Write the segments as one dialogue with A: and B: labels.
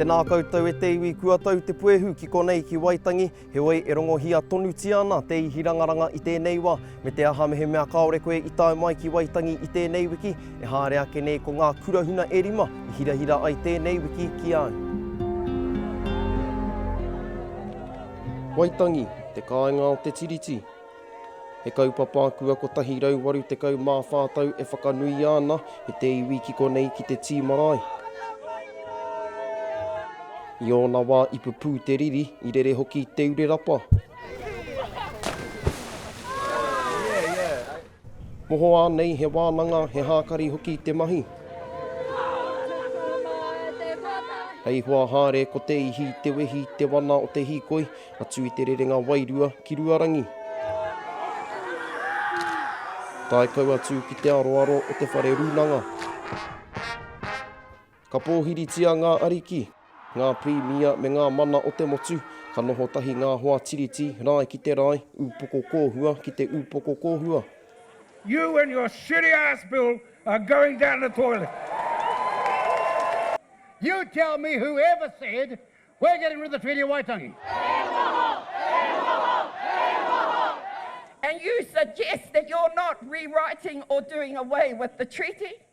A: Tēnā koutou e te iwi kua tau te puehu ki konei ki Waitangi, heoi e rongohia tonutia ana te ihirangaranga i tēnei wa, me te aha mehemea kaore koe i tae mai ki Waitangi i tēnei wiki, e haere ake nei ko ngā kurahuna e rima i hirahira ai tēnei wiki ki au. Waitangi, te kāinga o te Tiriti. He kaupapa kua 184 tau e whakanuia ana e te iwi ki konei ki te tī marae. I ōna wā i pupū te riri, i rere hoki te urerapa. Mohoa nei he wānanga, he hākari hoki te mahi. Hei hoa haere ko te ihi, te wehi, te wana o te hīkoi, atu i te rerenga wairua ki Ruarangi. Tae kau atu ki te aroaro o te whare rūnanga. Ka pōhiritia ngā ariki, ngā pirimia me ngā mana o te motu, ka noho tahi ngā hoa Tiriti, rae ki te rae, upoko kōhua ki te upoko kōhua. You
B: and your shitty ass bill are going down the toilet. You tell me who ever said we're getting rid of the Treaty of Waitangi. He noho! He noho! He noho!
C: And you suggest that you're not rewriting or doing away with the Treaty?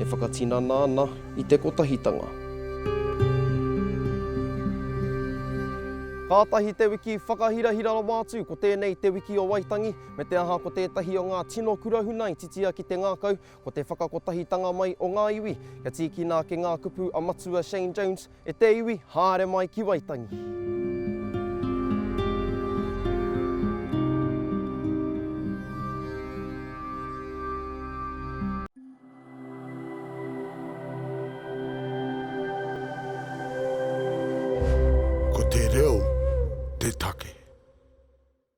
A: E whakatinana ana i te kotahitanga. Kātahi te wiki whakahirahira rawa atu ko tēnei Te Wiki o Waitangi, me te aha ko tētahi o ngā tino kura huna i titia ki te ngākau, ko te whakakotahitanga mai o ngā iwi. Kia tīkina ake ngā kupu a Matua Shane Jones, E te iwi, haere mai ki Waitangi. Ko te reo te take.